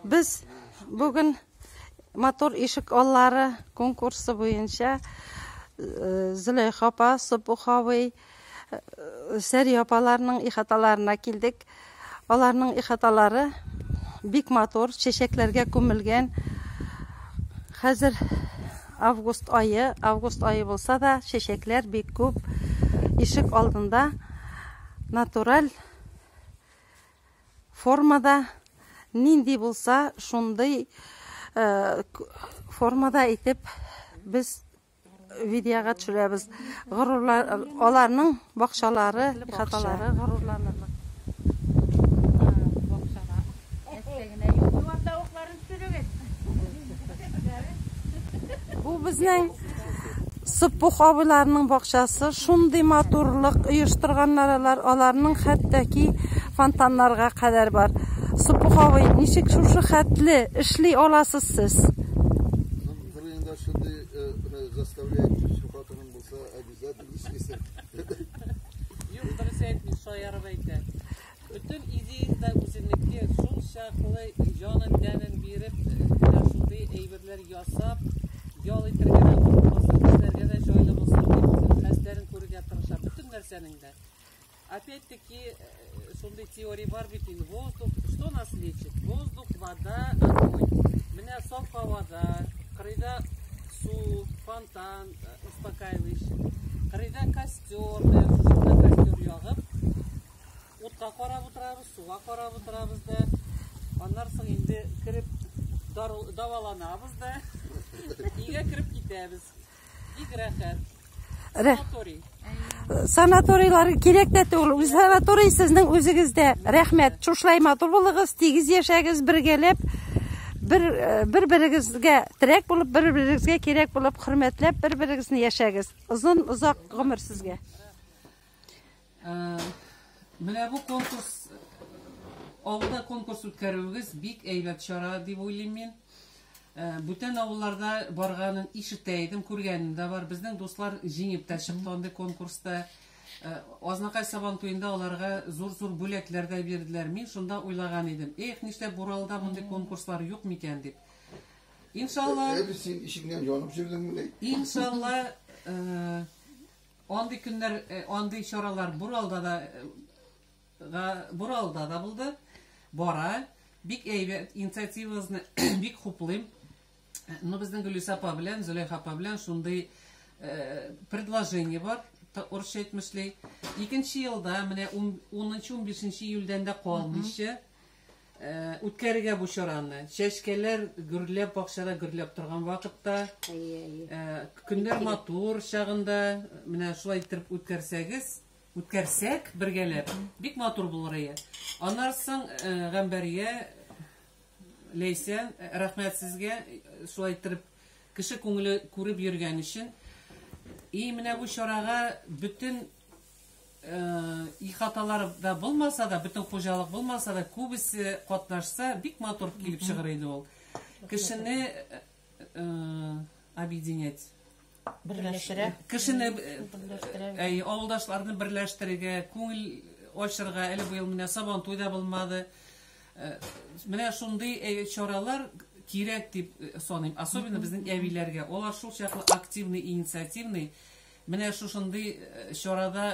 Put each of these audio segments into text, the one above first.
Без бүген матур ишек аллары конкурсы буенча э, Зөләйха апа, Сопух абый, э, Сәри апаларның ихаталарына килдек. Аларның ихаталары бик матур, чәчәкләргә күмелгән. Хәзер август айы, август айы булса да, чәчәкләр бик күп. Ишек алдында натураль Формада нинди булса, шундый формада итеп без видеога төшерәбез. Горурлар аларның бакчалары, хаталары горурланырлык. Бу безнең Сыппух абыйларының бакчасы шундый матурлык оештырганнар алар, аларның хәттәки фонтаннарга кадәр бар. Сыппух абый, ничек шушы хәтле эшли аласыз сез? Бер инде шундый заставлять хатының булса, обязательно эшлисең. Юк, дөрес әйтми, шаярып әйтә. Бөтен идеяң да үзенеке, шул чаклы җанын тәнен биреп, менә шундый әйберләр ясап, ял итәргә дә куркмасын, эшләргә дә җайлы булсын дип, хәстәрен күрергә тырыша. Бөтен нәрсәнең дә. Опять-таки, э, шундый теория бар бит инде, воздух, что нас лечит? Воздух, вода, огонь. Менә саф һавада, кырыйда су, фонтан, э, успокаивающий. Кырыйда костер, Утка карап утырабыз, суга карап утырабыз да. Аннан соң инде кереп даваланабыз да. Өйгә кереп китәбез. Бик рәхәт. Санаторий. Санаторийлар кирәк тә түгел. Үз санаторий сезнең үзегездә. Рәхмәт. Шушылай матур булыгыз, тигез яшәгез, бергәләп бер э, бер берегезгә терәк булып, бер берегезгә кирәк булып, хөрмәтләп, бер берегезне яшәгез. Озын озак гомер сезгә. Менә бу конкурс авылда конкурс үткәрүегез бик әйбәт чара дип уйлыйм мин. Э, бүтән авылларда барганын ишетә идем, күргәнем дә бар. Безнең дуслар җиңеп тә чыкты андый конкурста. Э, Азнакай сабан туенда аларга зур-зур бүләкләр дә бирделәр. Мин шунда уйлаган идем, эх, нишләп Буралда мондый конкурслар юк микән дип. Иншалла. Э, син ишегеннән янып җөрдең мени? Иншалла, Андый көннәр, андый чаралар Буралда да га Буралда да булды. Бара. Бик әйбәт инициативагызны бик хуплыйм. Ну, безнең Гөлүсә апа белән, Зөләйха апа белән шундый э, предложение бар урысча әйтмешли. Икенче елда, менә 10-15 июльдән дә калмыйча, Үткәрергә бу чараны. Чәчкәләр гөрләп, бакчада гөрләп торган вакытта, Әйе, әйе. э, көннәр матур чагында, менә шулай итеп үткәрсәгез, үткәрсәк бергәләп, бик матур булыр ие. Аннан соң э, Гамбәрия, Ләйсән, э, рәхмәт сезгә, э, шулай итеп кеше күңеле күреп йөргән өчен. И менә бу чарага бөтен Ихаталар да булмаса да, бөтен хуҗалык булмаса да, күбесе катнашса, бик матур килеп чыгыр иде ул. Кешене объединять берләштерә кешене әй авылдашларны берләштерергә күңел ачырга әле быел менә сабан туйда булмады менә шундый чаралар кирәк дип саныйм особенно безнең әбиләргә алар шул чаклы активный инициативный Менә шушындый чарада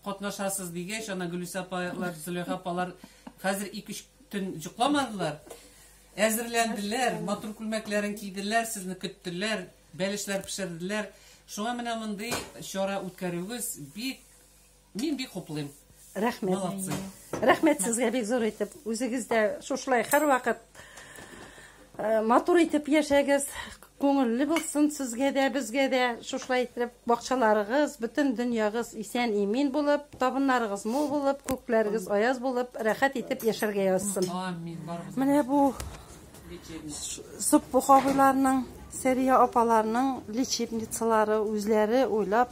катнашасыз, дигәч, ана Гөлүсә апалар, Зөләйха апалар хәзер ике-өч төн йокламадылар. Әзерләнделәр, матур күлмәкләрен киделәр, сезне көттеләр, бәлешләр пешерделәр. Шуңа менә мондый чара үткәрүегез бик Мин бик хуплыйм. Рәхмәт. Молодцы. Рәхмәт сезгә бик зур итеп. Үзегез дә шушылай һәрвакыт э, матур итеп яшәгез. Күңелле булсын сезгә дә, безгә дә. Шушылай итеп бакчаларыгыз, бөтен дөньягыз исән имин булып, табыннарыгыз мул булып, күкләрегез аяз булып, рәхәт итеп яшәргә язсын. Амин. Барыбыз. Менә бу Суппух абыйларның, Сәрия апаларның лечебницалары үзләре уйлап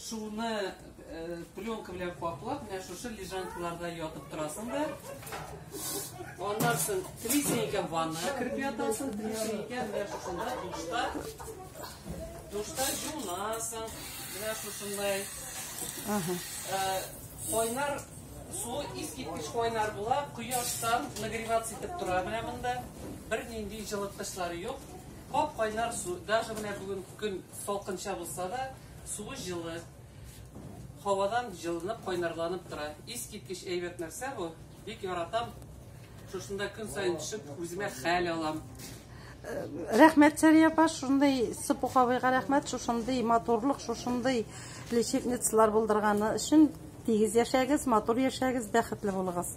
шуны э, пленка белән каплап, менә шушы лежанкаларда ятып торасың да. Аннан соң трисенька ванна кереп ятасың, трисенька менә шушында душта. Душта жуынасың, менә шушындай. Ага. Э, кайнар су искиткеч кайнар була, кояштан нагреваться итеп тора менә монда. Бернинди җылыткычлары юк. Кап кайнар су, даже менә бүген көн Салкынча булса да, суы җылы, һавадан җылынып, кайнарланып тора. Искиткеч әйбәт нәрсә бу. Бик яратам. Шушында көн саен төшеп, үземә хәл алам. Рәхмәт, Сәрия апа, шундый Сыпух абыйга рәхмәт, шушындый матурлык, шушындый лечебницалар булдырганы өчен. Тигез яшәгез, матур яшәгез, бәхетле булыгыз.